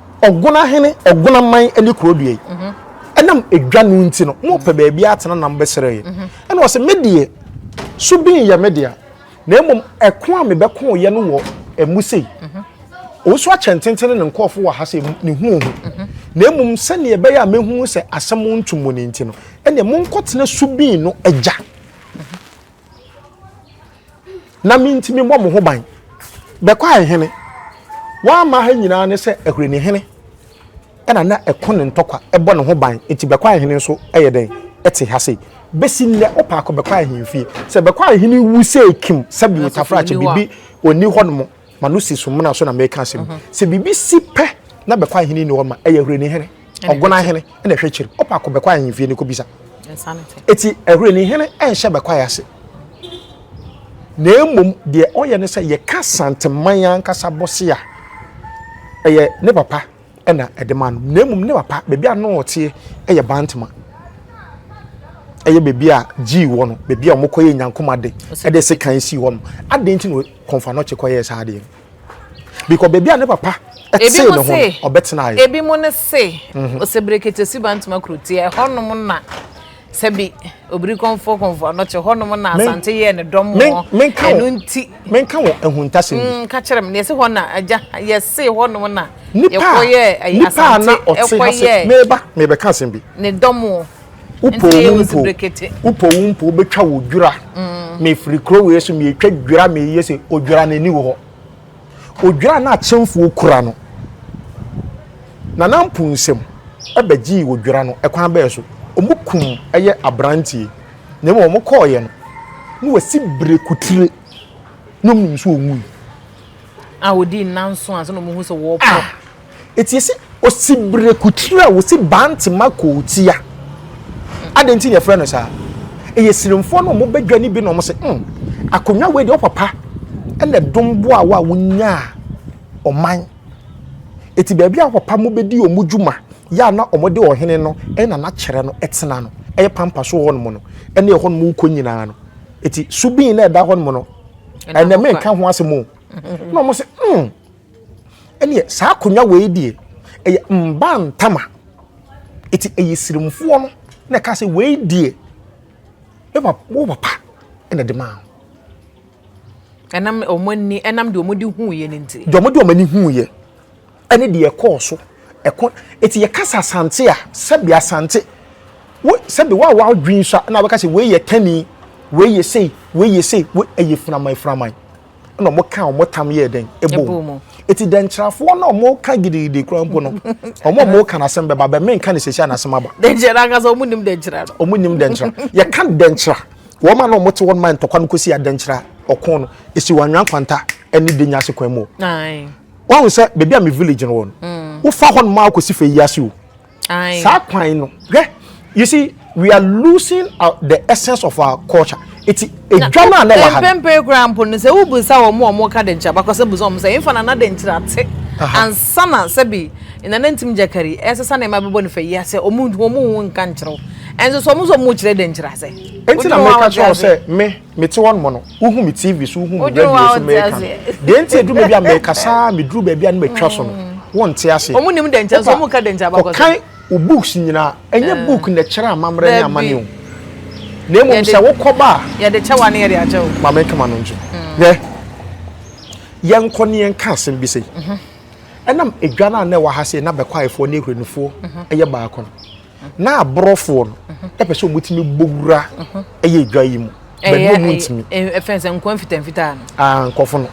Ɔgona hene, ɔgona man ne kuro deɛ yi, ɛnam edwa no nti no, mopɛ baabi atena na mobɛsrɛ yi. Ɛna ɔse, me deɛ, so bi nyɛ me dea, na mmom ɛko a mebɛkoeɛ no wɔ mu sei, Owusu akyɛ ntenten ne ne nkurɔfo wɔ ha sɛ ne hu ohu, na mmom sɛdeɛ ɛbɛyɛ a mɛhunu sɛ asɛm nto mu no nti no, ɛneɛ monkɔtena Subin no agya. na me nti memmɔ mo ho ban. Bɛkɔ ahene, wɔamma ha nyinaa ne sɛ Ahureni hene na na ɛko ne ntɔkwa bɔ ne ho ban, nti Bɛkɔ ahene nso yɛ dɛn te ha sei. Bɛsi nnɛ wopɛ akɔ Bɛkɔ ahemfie, sɛ Bɛkɔ ahene wu sei kim sɛbi otafrakye bibi ɔnni hɔ nom. ma no si so mmena so na meka asɛm mhm. sɛ biribi si pɛ na bɛkɔ ahene ni hɔ ma ɛyɛ hwere ne hene ɔgona ahene na ɛhwɛ kyiri ɔpa akɔ bɛkɔ ahemfie ne kɔbisa ɛti ɛhwere ne hene ɛnhyɛ bɛkɔ ayɛ ase na mmom deɛ ɔyɛ ne sɛ yɛka santeman ankasa bɔse a ɛyɛ ne papa ɛna ɛde ma no na mmom ne papa baabi a no ɔteɛ ɛyɛ bantama ɛyɛ baabi a gyii wɔ no baabi a wɔkɔyɛ nyankoma de ɛde se kan si hɔ no adeɛ nti na kɔnfa no kye kɔyɛɛ saa adeɛ no bikɔ baabi a ne papa tee ne ho ɔbɛtenaeɛ ebi mu no se mhm. ɔsɛberekete si bantoma kuroteɛ ɛhɔnom na sɛbi obiri kɔnfɔ kɔnfɔ anɔkye hɔnom na asante yɛɛ ne dɔm wɔ ɛno nti menka wɔ ahuntasɛm bi mm, ka kyerɛ me na yɛse hɔ na agya yɛse hɔnom na yɛkɔyɛ asante ɛkɔyɛ meba mebɛka asɛm bi ne dɔm wɔ wopɔ wo mpo wopɔ wo mpo wobɛtwa wo dwira mm. mefiri kuro wei so metwa dwira meyɛ sɛ odwira n'ani wɔ hɔ odwira no akyɛmfoɔ kura no nana mpo nsɛm ɛbɛgyee odwira no ɛkwan bɛɛ so wɔn kum ɛyɛ aberanteɛ na mmom wɔn kɔɔyɛ no na wɔasi bere kutire na wɔn nso wɔn wui. a wɔdi nnanso ansa na wɔn ho sɛ wɔɔpɔ. Ah! Etie sɛ osibirekotiri a wosi bantema kootia. Adɛn nti na yɛfrɛ no saa? Ɛyɛ sirimfoɔ no wɔn badwa no bi na wɔn se, hmm, akonnwa wei deɛ ɔpapa na ɛdom boa wo a wonyaa ɔman. Eti baabi a papa mo bɛdi wɔn dwuma yɛ a na wɔde ɔhene no na na kyerɛ no tena no. Ɛyɛ pampa so hɔnom no ne ɛhɔnom wokɔ nyinaa no. Eti subin na ɛda hɔnom no, ɛnɛ menka ho asɛm o. Na wɔn se, hmm. Ɛneɛ saa akonwa wei deɛ ɛyɛ mbaa ntama ɛti ɛyɛ sirimfoɔ no na ɛka sɛ wei deɛ me papa wo papa ɛna ɛde maa ho. Ɛnam wɔn ani ɛnam deɛ wɔn de huuyɛ no nti. Deɛ wɔn de wɔn ani huuyɛ ɛne deɛ ɛkɔɔ so ɛkɔ ɛti yɛ kasa asante a sɛbi asante wo sɛbi wa wa dwi nso a ɛna abɛka sɛ wei yɛ tani wei yɛ sei wei yɛ sei wei ɛyɛ firaman firaman. na wɔn ka wɔn tam yɛ dɛn ɛbɔ mu eti dɛnkyerɛfoɔ na wɔn ka gidigidi kura mpo no wɔn a wɔn ka n'asɛm bɛba bɛn mɛnka ne sɛsi a n'asɛm aba. dɛnkyerɛ n'ankasa wɔn nim dɛnkyerɛ no. wɔn nim dɛnkyerɛ yɛka dɛnkyerɛ wɔn a na wɔn te wɔn man ntɔkwa no kɔsi adɛnkyerɛ ɔko no esi wɔn anwia nkwanta ɛne de nya ase kwan mu. wɔn sɛ beebi a me village no wɔn mm. wofa hɔ no maa kɔsi fɛ yi ase o. saa kwan no hwɛ you see we are losing our, the essence of our culture eti edwa no a na wɔ ha no. mpempere kura mpo no sɛ wobisa wɔn a wɔn ka de nkyɛn abakɔsɛ busa wɔn sɛ nfa na na de nkyerɛ ate ansa na sɛbi nana ntim gyakari ɛsɛ sɛ nneɛma bɛbɔ ne fɛ yi asɛ wɔn wɔn ho nka nkyerɛw ɛnso sɛ wɔn nso wɔn kyerɛ de nkyerɛ asɛ. eti na mɛka kyerɛ wɔn sɛ me. Mete hɔnom no, wohu me TV so, wohu me radio so meka no. Deɛ nti ɛduru baabi a mekasa a meduru baabi a na matwa so no, wonte aseɛ. Wɔn nim dɛnkyɛ nso, wɔn ka dɛnkyɛ abakɔsɛm. Kɔkan wo books nyinaa. Ɛnyɛ book na ɛkyerɛ amammerɛ ne amane o. Na mmom sɛ wokɔba a. Yɛde kyɛ wa ne yɛde akyɛ wo. Ma menka m'ano nkyerɛ. Hwɛ, yɛnkɔ ne yɛnka asɛm bi sei. Ɛnam edwa no a na ɛwɔ ha sei na Bɛkwaayefoɔ ne Ahuranifoɔ yɛ baako no. na aborɔfoɔ no ɛpɛ sɛ wɔtumi bɔ wura ɛyɛ adwa yi mu bɛbi ɔmu ntumi ɛfɛn sɛ nkɔn fitanfitaa no ah nkɔfo no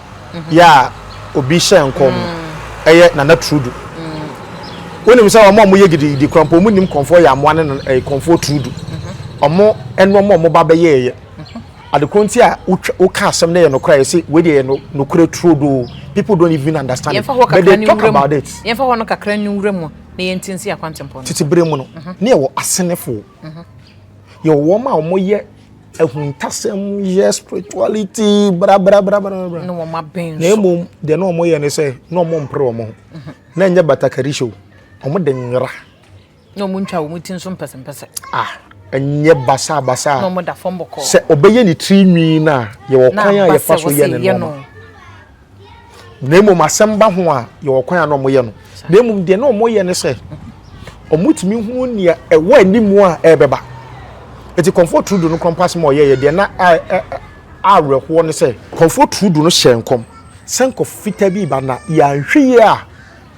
yɛ a obi hyɛ nkɔn mu ɛyɛ nana trudu wonim sɛ wɔn a wɔyɛ gidigidi kura mpɔ wɔn nim kɔnfoɔ yɛ amoa ne ɛyɛ kɔnfoɔ trudu wɔn ɛno wɔn a wɔn ba bɛyɛ ɛyɛ adekorɔ nti a woka asɛm no yɛ nokora yɛ sɛ wei deɛ yɛ nokora trudu people don't even understand it but they talk about it. yɛmfa hɔ no kakra ne wura mu na yɛnti nsi akwantempɔn no. Tete bere mu no, mhm. ne yɛwɔ asenefo. Mhm. Yɛwɔ wɔn a wɔyɛ ahuntasɛm yɛ spirituality brabrabrabrabra. Na wɔn abɛn so. Na emu deɛ na wɔyɛ ne sɛ na wɔn mpere wɔn ho. Mhm. Na ɛnyɛ batakari show. Wɔn de nwera. Na wɔn ntwa wɔn ti nso mpɛsɛmpɛsɛ. Ah ɛnyɛ basabasa sɛ ɔbɛyɛ ne tiri nwi no a yɛwɔ kwan a yɛfa so yɛ ne nɔɔma na mmom asɛm ba ho a yɛwɔ kwan a na wɔyɛ no na mmom deɛ na wɔyɛ ne sɛ wɔtumi hu nea ɛwɔ anim a ɛrebɛba eti kɔnfo turudu no kɔmpa asɛm a ɔyɛeɛ deɛ na awerɛhoɔ ne sɛ kɔnfo turudu no hyɛɛ nkɔm sɛ nkɔfo fitaa bi ba na yɛanhwɛ yie a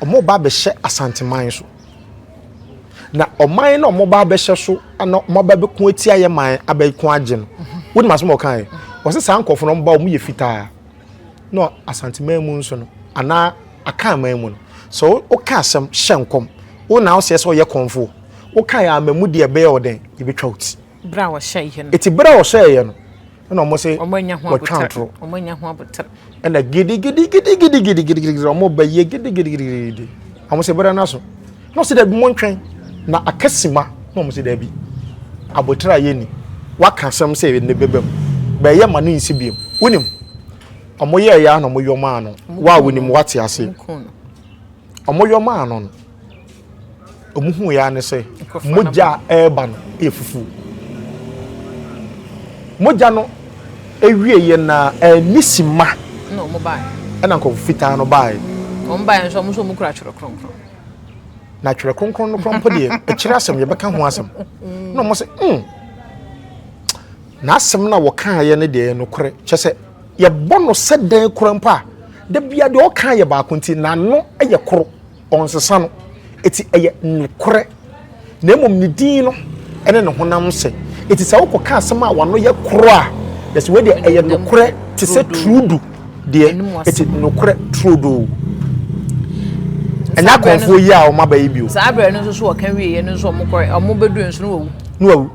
wɔba abɛhyɛ asanteman so na ɔman na wɔba abɛhyɛ so na wɔaba abɛko atia yɛ man abɛko agye no wonim asɛm a ɔkaeɛ wɔsɛ saa nkɔfo no wɔba wɔn yɛ fitaa na Asanteman mu nso no anaa Akanman mu no sɛ woka asɛm hyɛ nkɔm wo na woseɛ sɛ ɔyɛ kɔmfoɔ woka yɛ ama mu deɛ ɛbɛyɛ ɔdɛn yɛbɛtwa wo ti berɛ a wɔhyɛeɛ no ɛti berɛ a wɔhyɛeɛ no ɛna wɔn se wɔtwa ntorɔ ɛna gidigidigidigidigidigidi wɔn bɛyɛ gidigidigidigidi wɔn se berɛ no aso Na ɔse dabi montwɛn na aka sima na ɔmo se dabi aboterɛ a yɛnni waka asɛm sɛ ɛnɛ bɛba mu bɛɛ yɛ ma no nsi biom wonim ɔmo yɛɛyɛ a na ɔmo yɔmaa no waa wonim wate ase ɔmo yɔmaa no no ɔmo hu yɛ ne sɛ mogya a ɛreba no yɛ fufuo mogya no ewie yɛ na ɛni sima ɛna nkɔfo fitaa no baaɛ. Wɔn baaɛ nso wɔn nso wɔn kura twerɛ kronkron. na twerɛ kronkron no koraa mpo deɛ ɛkyerɛ asɛm yɛbɛka ho asɛm na wɔn sɛ mm n'asɛm no a wɔkaeɛ no deɛ nokorɛ kyɛ sɛ yɛbɔ no sɛ dɛn koraa mpo a da bia deɛ ɔka yɛ baako nti n'ano yɛ koro ɔnsesa no ɛti ɛyɛ nokorɛ na mmom ne din no ne ne honam nsɛ. Enti sɛ wokɔka asɛm a wano yɛ koro a, na sɛ wei deɛ ɛyɛ nokorɛ te sɛ turudu deɛ, ɛti nokorɛ turodoo. Ɛnyɛ akɔnfoɔ yi a wɔn aba yi bio. Saa abirɛ no nso so wɔka wieɛ no nso wɔn kɔrɛ wɔn bɛduru nso no wɔwu. No wɔwu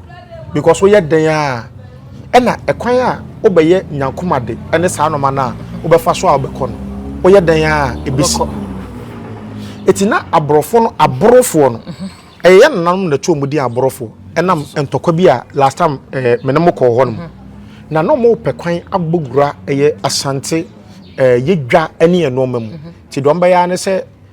because woyɛ dɛn a. Ɛna ɛkwan a wobɛyɛ nyankoma de ɛne saa nɔma no a wobɛfa so a wobɛkɔ no woyɛ dɛn a ɛbɛsi. Ɛti na aborɔfo no aborofoɔ no ɛyɛ yɛ nananom na ɛtoo mu din aborofoɔ ɛnam ntɔkwa bi a last time eh, mene mo kɔɔ hɔ no mu na na ɔmo pɛ kwan abɔ gura ɛyɛ asante eh, yɛ dwa ɛne ɛnoɔma mu nti deɛ ɔmo bɛyɛ ne sɛ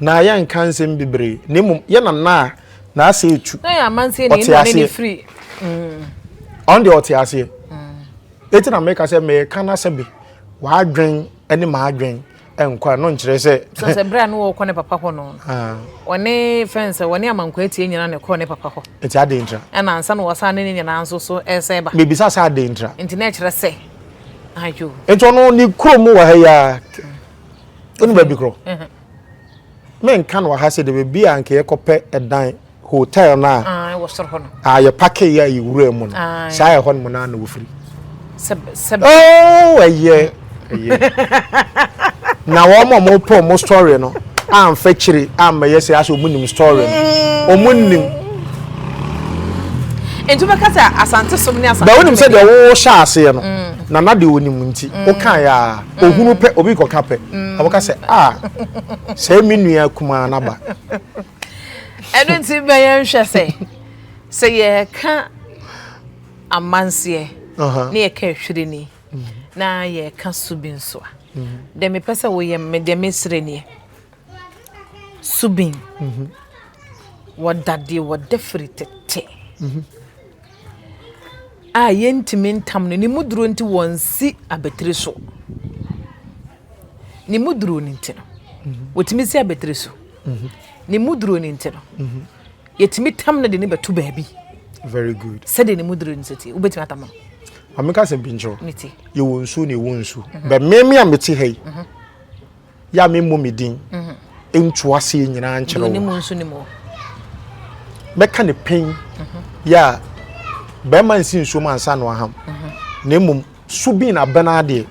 Na yɛnnka nsɛm bebree, na mmom yɛ na na a n'ase retu. Na yɛ amanseɛ ni, ɛnna ɔne no firi. Ɔno deɛ ɔte aseɛ. Eti na meka sɛ meka na sɛ be w'adwen ne m'adwen nkɔ a no nkyerɛ sɛ. Sɛ sɛ berɛ a no wɔkɔ ne papa hɔ no. Ɔne fɛn sɛ ɔne amankwa atie nyinaa na ɛkɔɔ ne papa hɔ. Eti adɛn ntra. Ɛna ansa na wɔsan ne ne nyinaa nso so ɛsɛ ba. Mebisa sɛ adɛn ntra. Nti na ɛkyerɛ sɛ. Ayo. Nti ɔno ne kurom wɔ ha yi ara. wonu baabi korɔ menka no aha sɛ de baabi a nka yɛkɔpɛ ɛdan hotel no a ah, ah, yɛpake yɛ yɛwura mu no ah, saa ɛhɔ no mu no ana wɔfiri oh, ɛyɛ na wɔn a wɔpɛ wɔn story no amfa kyiri ammɛyɛ sɛ asɛ wɔn nim story no wɔn mm. nim nti bɛka sɛ asante som ne asante bɛ wonim sɛ deɛ wohyɛ aseɛ no mm. nana deɛ wɔnim nti mm. wokaeɛ a Ohunu pɛ, obi kɔka pɛ. Ɔbɛka sɛ, a, sɛɛ me nua kumaa no aba. Ɛno nti bɛ yɛn hwɛ sɛ, sɛ yɛka amanseɛ na yɛka ahwirini na yɛka su bi nso a, deɛ mepɛ sɛ woyɛ me deɛ mesrɛ nie. Subin, wɔda deɛ wɔda firi tete. a yɛntumi ntam no, ne mu duro nti wɔnsi abatiri so. Ne mu duro no nti no, wɔtumi si abatiri so. Mhm. Ne mu duro no nti no, mhm. yɛtumi tam no de ne bɛto baabi. Very good. Sɛdeɛ ne mu duro no sɛ ti, wobɛtumi atam no. Ameka sɛ bi nkyerɛ. Yɛwɔ nsuo na ɛwɔ nsuo. Mhm. Bɛ mmemme a mete ha yi. yɛ a memmɔ me din nto aseɛ nyinaa nkyerɛ wo mɛka ne pɛn yɛ a bɛrima nsi nsuom ansa no aham na mmom so bi na bɛn adeɛ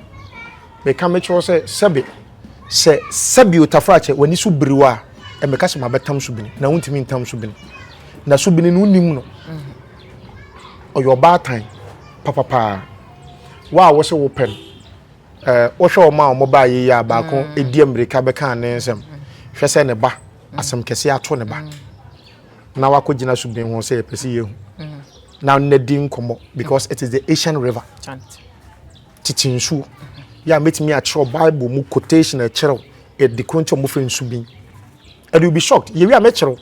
meka mekyerɛ sɛ sɛbe sɛ sɛbe otafra kyɛ w'ani so biriw a ɛmɛka sɛ mabɛtam so bini na wontumi ntam so bini na so bini no wonim no ɔyɛ ɔbaatan papapaa wo a wɔsɛ wopɛ no Eh, wohwɛ wɔn a wɔn baayɛ yi a baako mm. di mmirika bɛka ne nsɛm hwɛ sɛ ne ba mm. asɛm kɛse ato ne ba mm. na wakɔ gyina so bin ho sɛ yɛpɛ sɛ yɛhu na na di nkɔmmɔ because it is the asian river tete nsuo yɛ a mɛtumi akyerɛw bible mu quotation ɛkyerɛw ɛde kuro nti ɔmofrɛ nsu bin ɛde will be shocked yɛwi a mɛkyerɛw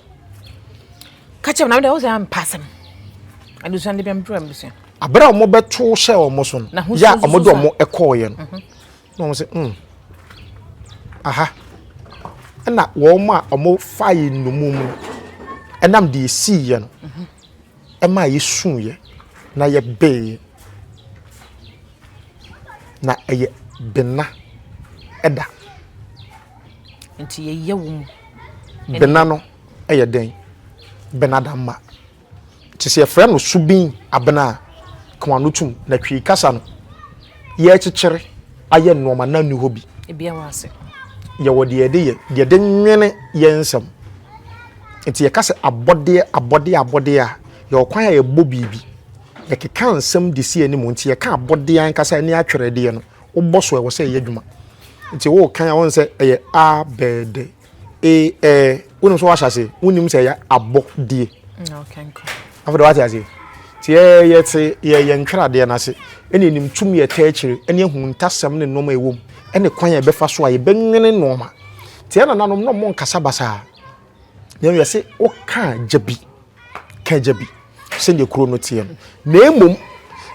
ka kyerɛ m na mede wo sɛ ampa asɛm adusua de bɛmdura mbusua Aberɛ a wɔbɛtoo hyɛɛ wɔn so no, yɛ a wɔde wɔn kɔɔeɛ no, mhm. na wɔn sɛ, mm, aha, ɛna wɔn a wɔfaeɛ nnumum no, ɛnam deɛ ɛsiiɛ no, mhm. ɛma yɛsuiɛ na yɛbeeɛ. Na ɛyɛ bena ɛda. Nti yɛyɛ wo mu. Bena no ɛyɛ dɛn? Bena da mma. Te sɛ yɛfrɛ no subin abena a, ka wɔn ano tom, na Twi kasa no, yɛrekyekyere ayɛ nnoɔma na nni hɔ bi. Ebia wɔ ase. Yɛwɔ deɛ yɛde yɛ, deɛ yɛde nwene yɛn nsɛm. Nti yɛka sɛ abɔdeɛ, abɔdeɛ, abɔdeɛ a, yɛwɔ kwan a yɛbɔ biribi. Yɛkeka nsɛm de si anim, nti yɛka abɔdeɛ ankasa ɛne atwerɛdeɛ no, wobɔ so a ɛwɔ sɛ ɛyɛ adwuma. Nti worekan a wohu sɛ ɛyɛ abɛɛdɛ. ee ɛɛ eh, wonim sɛ wɔahyɛ ase wonim sɛ ɛyɛ abɔdeɛ afei de wate ase nti yɛte yɛyɛ ntweradeɛ no ase ɛne ɛnim tumi ɛtɛ akyire ɛne ahu ntasɛm ne nnoɔma ɛwom ɛne kwan a ɛbɛfa so a yɛbɛnwene nnoɔma nti ɛna nanom na ɔmo nkasa basaa na ɛyɛ sɛ woka gya bi ka gya bi sɛdeɛ kuro no teɛ no na mmom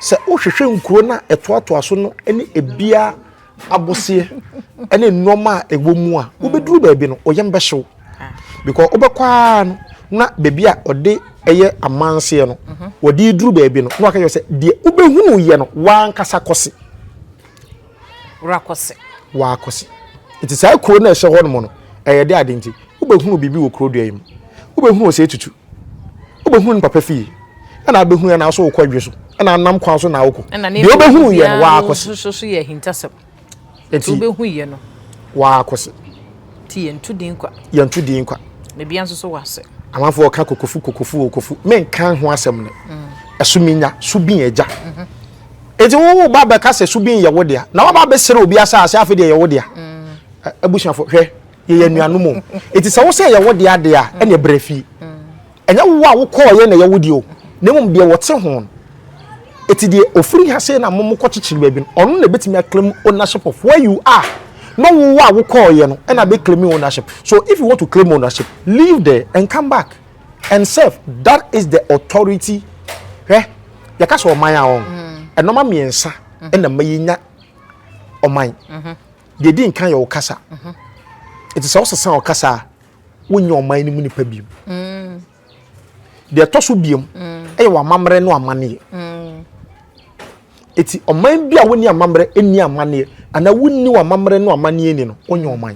sɛ wohwehwɛ nkuro no a ɛtoatoa so no ne ɛbiara aboseɛ ne nnoɔma a ɛwɔ mu a wobɛduru baabi no oyam bɛhyew because wobɛkɔ ara no na baabi a ɔde ɛyɛ amanseɛ no mhm. wɔde duru baabi no na waka yɛ sɛ deɛ wobɛhunu yɛ no wankasa kɔse wakɔse wakɔse nti saa kuro no a ɛhyɛ hɔ nom no ɛyɛ de ade nti wobɛhunu biribi wɔ kuro dua yi mu wobɛhunu ɔsɛ tutu wobɛhunu ne papa fie ɛna abɛhunu yɛ naaso wokɔ adwe so ɛna anam kwan so na wokɔ deɛ wobɛhunu yɛ no waakɔse nti waakɔse nti yɛnto din kwa yɛnto din kwa na bia nso so wase amanfoɔ ɔka kokofu kokofu okofu menka ho asɛm no mm. ɛso menya so bi agya mhm. nti wowo ba bɛka sɛ so bi yɛ wo dea na waba bɛsere obi asase afei deɛ yɛ wo dea mm. abusuafo hwɛ yɛyɛ anuanom o eti sɛ wosɛ yɛwɔ deɛ adeɛ a ɛna ɛbrɛ fie ɛnyɛ wo a wokɔɔ yɛ na ɛyɛ wo deɛ o na mmom deɛ wɔte ho eti deɛ ofiri ha sɛ na mo mokɔ kyekyere baabi no ɔno na ebetumi aklaim ownership of where you are na wo a wokɔɔ yɛ no ɛna bɛ claim ownership so if you want to claim ownership leave there and come back and serve that is the authority hwɛ yɛka sɛ ɔman a wɔn ɛnɔma mmiɛnsa ɛna mma yɛnya ɔman. deɛ di nkan yɛ ɔkasa ɛti sɛ ɔsesa ɔkasa a wonyɛ ɔman no mu nipa biom mm. deɛ ɛtɔ so biom mm. ɛyɛ w'amammerɛ no amanneɛ ɛti mm. ɔman bi a wonni amammerɛ ɛnni amanneɛ anaa wonni w'amammerɛ no amanneɛ ni no wonyɛ ɔman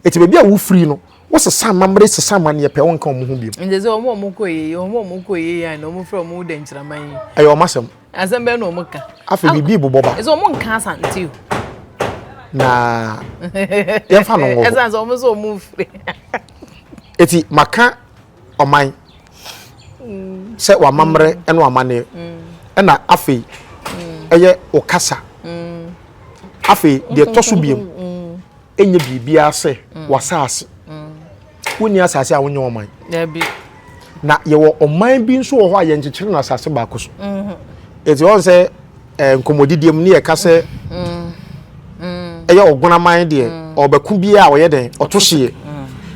ɛti baabi a wofiri no wosesa amammerɛ sesa amanneɛ pɛ wonka ɔmo ho biom ɛyɛ ɔmo asɛm Asɛm bɛn na wɔn ka. Afei biribi bobɔ ba. Ɛsɛ wɔn nka asante o. Na yɛfa no wɔ. Ɛsan sɛ wɔn nso wɔn firi. Eti maka ɔman mm. sɛ wamammerɛ mm. ɛna wamanneɛ mm. ɛna afei ɛyɛ ɔkasa afei deɛ ɛtɔ so biem ɛnyɛ biribiara sɛ wasaase. wonni asase a wonyɛ ɔman na yɛwɔ ɔman bi nso wɔ hɔ a yɛnkyekyere no asase baako so ɛti mhm. ɔn sɛ eh, nkɔmmɔdidiɛ mu ne yɛka sɛ mhm. Mhm. ɛyɛ ɔgonaman deɛ ɔbɛko bi a ɔyɛ dɛn ɔto hyeɛ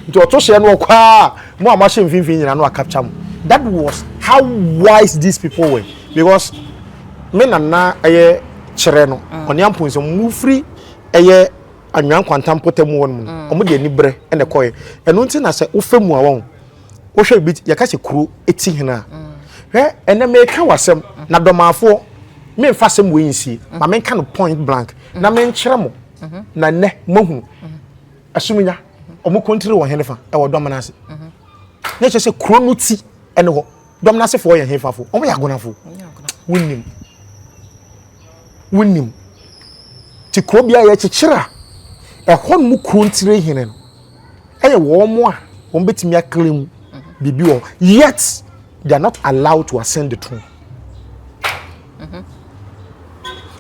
nti ɔto hyeɛ no ɔkɔ a mo a moahyɛ mfimfini nyina no akapkya mo that was how wise these people were because me nana ɛyɛ kyerɛ no ɔne amponsɛ mufiri ɛyɛ anwea nkwanta mpɔtam mu hɔnom no wɔn de anibrɛ na ɛkɔɛ ɛno nti na sɛ wofa mu a wɔn wohwɛ bi yɛka sɛ kuro eti hene a hwɛ ɛnna mɛka wasɛm na dɔmaafoɔ mɛnfa asɛm wɔ yi nsie ma mɛnka no point blank na mɛnkyerɛ mo na nnɛ moahunu ɛsominya wɔn kɔntiri wɔn hene fa ɛwɔ dɔm no ase na ɛkyɛ sɛ kuro no ti ɛne hɔ. dɔm no asefoɔ yɛ hefafo wɔn yɛ agonafo wonim wonim te kuro bi a yɛkyekyere a ɛhɔ nom kuro ntire hene no ɛyɛ wɔn a wɔn bɛtumi akele mu biribi wɔ yet they are not allowed to ascend the throne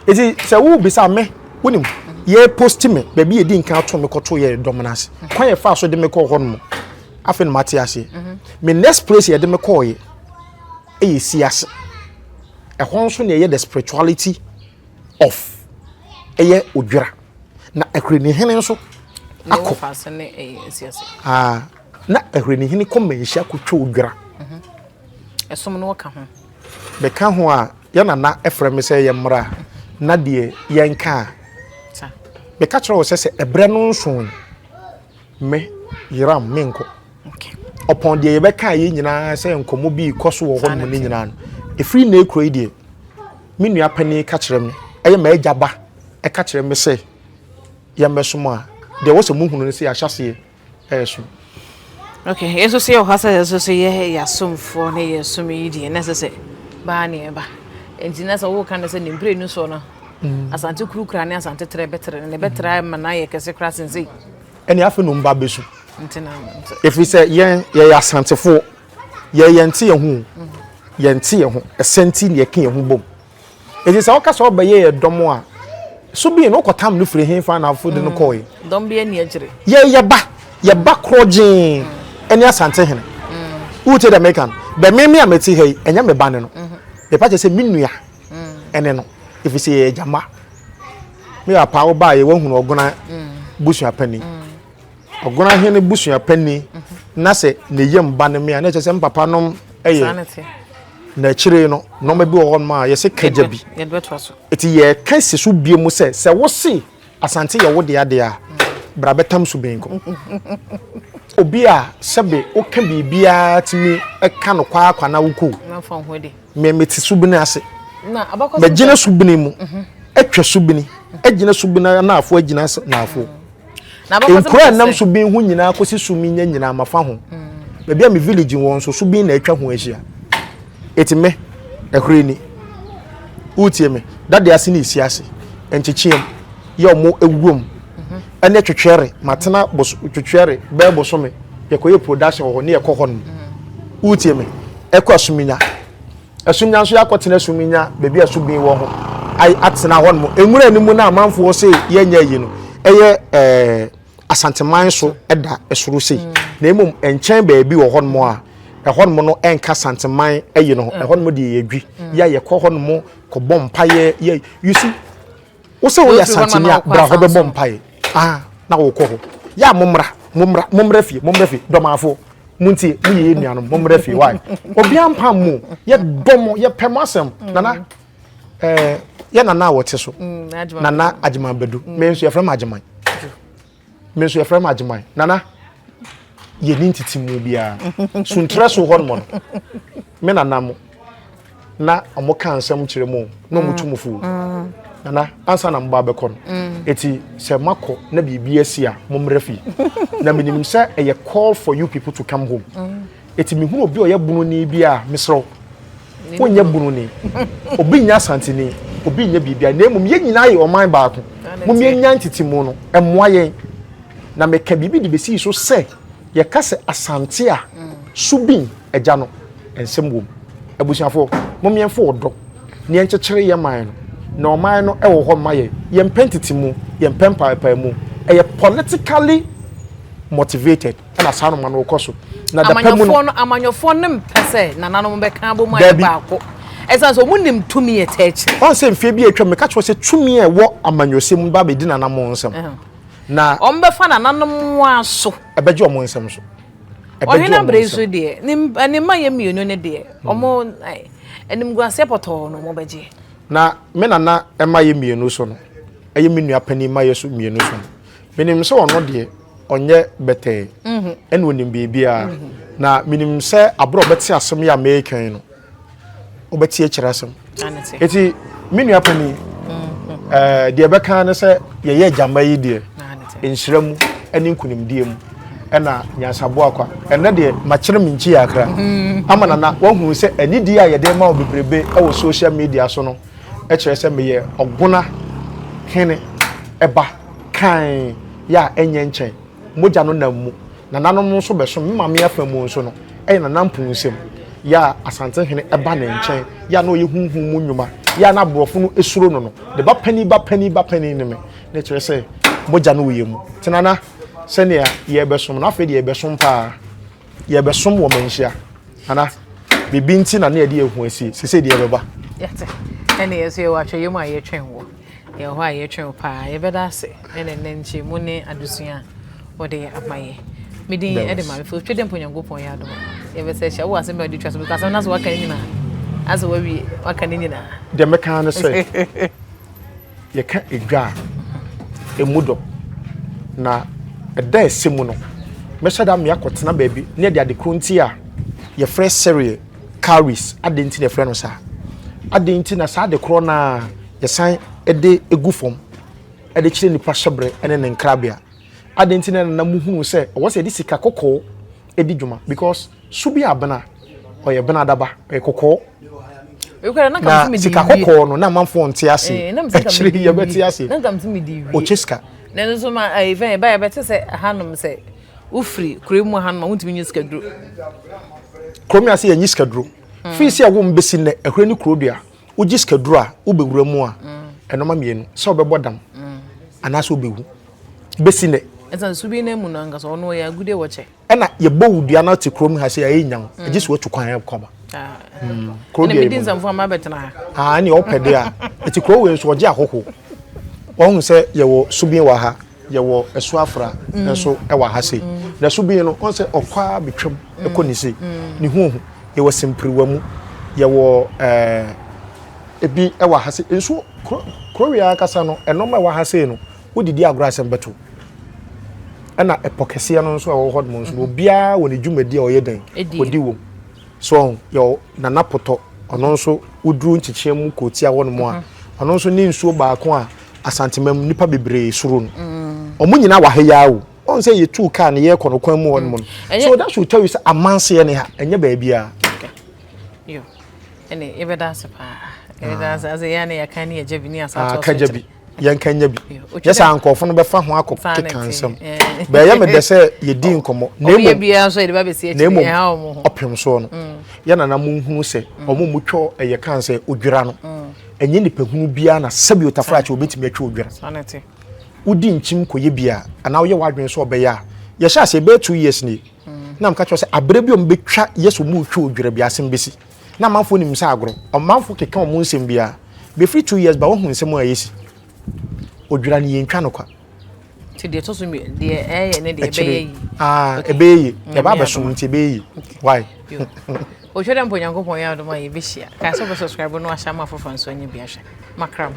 eti mhm. sɛ wo bisa me wonim yɛ post me baabi yɛ di nkan ato me kɔto yɛ dɔm no ase kwan yɛ fa so de me kɔ hɔ nom. afei na mate ase me next place yɛde me kɔɔye ɛyɛ si ase ɛhɔ nso na ɛyɛ the spirituality of ɛyɛ odwira na ahwirenihene nso akɔ ah, na ahwirenihene kɔ manhyia kɔtwa odwira mhm. ɛsom no wɔka ho bɛka ho a yɛnana ɛfrɛ me sɛ yɛ mmara na deɛ yɛnka a bɛka kyerɛ wɔ sɛ sɛ ɛberɛ no nso Me, Yeram, menkɔ. Ɔpɔn deɛ yɛbɛka yɛ nyinaa sɛ nkɔmmɔ bi rekɔ so wɔ hɔnom no nyinaa no, ɛfiri nnɛ kuro yi deɛ, me nua panin ka kyerɛ me, ɛyɛ m'agya ba ɛka kyerɛ me sɛ yɛmmɛsom a, deɛ wɔ sɛ mohunu no sɛ yɛahyɛ aseɛ ɛresom. Okay, yɛn nso so yɛ wɔ ha sɛ yɛn nso so yɛ yɛasomfoɔ na yɛ som yi deɛ na ɛsɛ sɛ baa ne ɛba. Nti na sɛ woka no sɛ ne mprenu soɔ no, mm. asante kuru kura ne asante trɛ bɛtrɛ no, ne bɛtrɛ ama no ayɛ kɛse koraa sensei. ɛne afei no mba bɛsu ɛfiri sɛ yɛn yɛyɛ asantefoɔ yɛ yɛnte yɛn ho yɛnte yɛn ho ɛsɛ nti na yɛka yɛn ho bom ɛti sɛ woka sɛ wobɛyɛ yɛ dɔm a so bi no wokɔtam no firi hefa na afo de no mm. kɔe dɔm bi ani agyere yɛ yɛba yɛba korɔ gyee mm. ɛne asante hene mm. wote dɛ meka no bɛ meme a mete ha yi ɛnyɛ me ba ne no mepa kyɛ sɛ me nua ɛne no ɛfiri sɛ yɛyɛ gyama me yɛ apaa wobaa yɛ wahunu ɔgona busua panyin ɔgona hene busua panyin na sɛ ne yam ba ne me a na ɛkyɛ sɛ me papa nom ɛyɛ na akyire no nneɛma bi wɔ hɔ nom a yɛsɛ kagya bi eti yɛka si so bie mu sɛ sɛ wosi asante yɛ wo de adeɛ a bra bɛtam so benko obi a sɛbe woka biribiara tumi ɛka no kwaakwa na wokɔ me mete subene ase megyina subene mu mhm. atwa subene agyina subene anaafo agyina ase naafo mm. nkura a nam subene ho nyinaa kɔsi sumi nya nyinaa mafa ho mm. baabi a me village wɔn so subene na atwa ho ahyia ɛti me ɛhore ni wotie me dade ase ne ɛsi ase nkyekyeɛm yɛ ɔmo awuom mhm. ɛne twetwɛre matena twetwɛre bɛɛ bosome yɛkɔyɛ production wɔ hɔ ne yɛkɔ hɔ no mm. wotie me ɛkɔ asuminya asuminya nso yɛakɔtena asuminya baabi a subin wɔ ho atena hɔ nom nwura no mu na amanfoɔ se yɛnyɛ ayi no ɛyɛ ɛɛ asanteman so ɛda ɛsoro sei mm. na mmom nkyɛn baabi wɔ hɔ nom a ɛhɔ nom no ɛnka santeman ɛyi no ho mm. ɛhɔ nom deɛ yɛdwi mm. yɛ yɛkɔ hɔ nom kɔbɔ mpaeɛ yɛ you see Wo sɛ woyɛ Asanteni a, bra hɔ bɛbɔ mpae. Ah, na wokɔ hɔ. Yɛ a mommra, mommra, mommra fie, mommra fie, dɔmaafoɔ. Montie, moyɛ yɛn nuanom, mommra fie, why? Obiara mpam mo, yɛdɔ mo, yɛpɛ mo asɛm. Nana, eh, yɛ Nana a wɔte so. Mm, Nana Agyeman Badu. Mm. Me nso yɛfrɛ me Agyeman. me nso yɛfrɛ me agyeman nana yɛni ntete mu biara suntrɛ so hɔ nom no me nana mo na ɔmo ka nsɛm kyerɛ mu na ɔmo tu mu fo mm. nana ansa na mo ba bɛkɔ no mm. eti sɛ mo akɔ na biribi asi a mo mmerɛ fi na menim sɛ ɛyɛ call for you people to come home. Mm. Eti mehunu obi a ɔyɛ bununi bi a, mesrɛ wo, wonyɛ bununi. Obi nyɛ Asanteni, obi nyɛ biribiara, na mmom yɛn nyinaa yɛ ɔman baako. Mom yɛnya ntetemu no, ɛmmoa yɛn. Na meka biribi de besii so sɛ, yɛka sɛ Asante a, Subin agya no, nsɛm wom. Abusuafoɔ, mom yɛmfa ɔdɔ na yɛnkyekyere yɛn man no, na ɔman no wɔ hɔ ma yɛn. Yɛmpɛ ntetemu, yɛmpɛ mpaapaemu. Ɛyɛ politically motivated. ɛna saa noma no kɔ so na dapɛ mu no amanyɔfoɔ no mpɛ sɛ nananom bɛka abɔ mu ayɛ baako ɛsan sɛ wɔn nim tumi yɛ tɛɛkyɛ wɔn sɛ mfie bi atwa mu meka kyerɛ sɛ tumi a ɛwɔ amanyɔsɛm mu ba bɛdi nananom nsɛm na wɔn bɛfa nananom wɔn aso ɛbɛgye wɔn nsɛm so ɔhene abere nso deɛ ne mma yɛ mmienu ne deɛ hmm. wɔn animguaseɛ pɔtɔɔ no wɔn bɛgye na me nana mma yɛ mmienu so no ɛyɛ me nua panin mma yɛ so mmienu so no Menim sɛ ɔno deɛ ɔnyɛ bɛtɛɛ mhm. ɛna ɔnim biribiara mhm. na menim sɛ aberɛ ɔbɛte asɛm yɛ a meekɛn no wobɛte akyerɛ asɛm ɛti me nua pani mhm. eh, deɛ bɛka ne sɛ yɛyɛ agyama yi deɛ nhyira mu ne nkonimdie mu ɛna nyansaboa kwa ɛnɛ deɛ makyerɛ me nkyi akra ama nana wahunu sɛ anidie a yɛde ma wo bebrebe wɔ social media so no kyerɛ sɛ meyɛ ɔgona hene ba kann yɛ a ɛnyɛ nkyɛn. Mogya no nam mu. Nananom nso bɛsom. Me maame afa mu nso no, ɛyɛ Nana Mpunsem yɛ a Asantehene ba ne nkyɛn yɛ a na ɔyɛ honhom mu nnwuma yɛ a na aborɔfo no suro no no. Ne ba panin ba panin ba panin ne me. Na ɛkyerɛ sɛ mogya no wɔ yɛn mu. Nti Nana, sɛnea yɛrebɛsom no, afei deɛ yɛbɛsom paa. yɛbɛsom wɔ manhyia ana biribi nti na ne yɛde yɛn ho asie sese deɛ ɛbɛba. yɛte ɛna yɛn nso yɛwɔ atwɛyɛ mu a yɛtwɛn wɔ yɛn hɔ a yɛtwɛn paa yɛbɛda ase ɛna ɛnɛ nkyɛn mu ne adesua a wɔde ama yɛ mede ɛde ma mfe otwe dɛ mpo nyankopɔn yɛ adom yɛbɛsɛ hyɛ wo asɛm bɛ de twa so because asɛm no so waka ne nyinaa asɛ wawie waka ne nyinaa deɛ mɛka ne sɛ Yɛka edwa a, emu dɔ. Na ɛda a ɛsɛ mu no, mɛhyɛ da me akɔtena baabi na yɛde ade koro nti a yɛfrɛ cereal cowries. Adɛn nti na yɛfrɛ no saa? Adɛn nti na saa ade korɔ no a yɛsan de gu fam de kyerɛ nipa hyɛbrɛ ne ne nkrabea? Adɛn nti na na muhunu sɛ ɛwɔ sɛ yɛde sika kɔkɔɔ di dwuma? Because So bi abena, ɔyɛ benadaba, ɔyɛ kɔkɔɔ. Na sika kɔkɔɔ no, na amanfoɔ nte ase. Akyire yi yɛbɛte ase. Ɔkyɛ sika. Na ɛno nso ma ɛfɛn ɛba yɛbɛte sɛ hanom sɛ wofiri kuro mu hanom a wontumi nye sika duro. Kurom yɛ ase yɛnye sika duro. Hmm. Firi sɛ ɛwom bɛsi nnɛ ɛhwɛ ne kuro dua. Wogye sika duro a wobɛwura mu a hmm. ɛnoma mmienu sɛ wobɛbɔ dam hmm. anaasɛ wobɛwu bɛsi nnɛ. Ɛsan subi no mu no ankasa ɔno ɔyɛ agudeɛ wɔkyɛ. ɛna yɛbɔ wo dua no te kurom ha sɛ ɛyɛ nyan ɛgye mm. sɛ watu kwan ɛkɔ ma ah. mm. kuro deɛ ɛmu ah, ɛne ɔpɛ deɛ a ɛti kuro wei nso ɔgye ahɔho wɔn sɛ yɛwɔ subin wɔ ha yɛwɔ ɛso afra mm. nso ɛwɔ ha sei na subin no wɔn sɛ ɔkɔa betwam ɛkɔ ne sei ne ho ohu yɛwɔ simpiriwa mu yɛwɔ ɛɛ ebi ɛwɔ ha sei nso kuro kuro wei ankasa no ɛnɔma ɛwɔ ha sei no. Wodidi agorɔ asɛm bɛto. Ɛna ɛpɔ kɛseɛ no nso a ɛwɔ hɔnom nso no obiara wɔ ne dwumadi a ɔyɛ dɛn ɔdi wom so ɔho yɛ nana potɔ ɔno nso woduru nkyekyea mu kootia hɔnom a ɔno nso ne nsuo baako a asanteman mu nnipa bebree soro no ɔmo nyinaa wɔ ha yaa o ɔn sɛ yɛtuu kaa no yɛkɔ no kwan mu hɔnom no so that should tell you sɛ amanseɛ ne ha ɛnyɛ baabiara ɛne yɛbɛda ase paa yɛbɛda ase ase yɛa ne yɛka ne yɛgya bi ne asatoɔ so kyerɛ yɛnka nya bi nyɛ saa nkurɔfo no bɛfa ho akɔ keka nsɛm bɛyɛ me dɛ sɛ yɛdi nkɔmmɔ na mmom ɔpem soɔ no mm. yɛna na monhunu sɛ mm. ɔmo mu twɛ ɛyɛ kan sɛ odwira no mm. ɛnyɛ nipahunu biara na sɛbi otafra kyɛ obɛtumi atwa odwira wodi nkyim kɔyɛ bi a anaa woyɛ w'adwene sɛ ɔbɛyɛ a yɛhyɛ ase ɛbɛyɛ two years ni na mka kyerɛ sɛ aberɛ bi ɔmo bɛtwa yɛ sɛ ɔmo retwa odwira bi asɛm bɛsi Na amanfoɔ nim sɛ agorɔ. Ɔmanfoɔ keka wɔn nsɛm biara. Bɛfiri two years ba woahu nsɛm a ɛsi. Odwira no yɛntwa no kwa. Nti deɛ ɛtɔ so mmi deɛ ɛyɛ ne deɛ ɛbɛyɛ yi. Ah ɛbɛyɛ yi. Ɛba abɛso nti ɛbɛyɛ yi. Why? Ohwɛ dɛ mpo Nyankopɔn yɛ adom a yɛbɛhyia. Kae sɛ wobɛ subscribe no ahyɛ ama afoforɔ nso anya bi ahwɛ. Makra mo.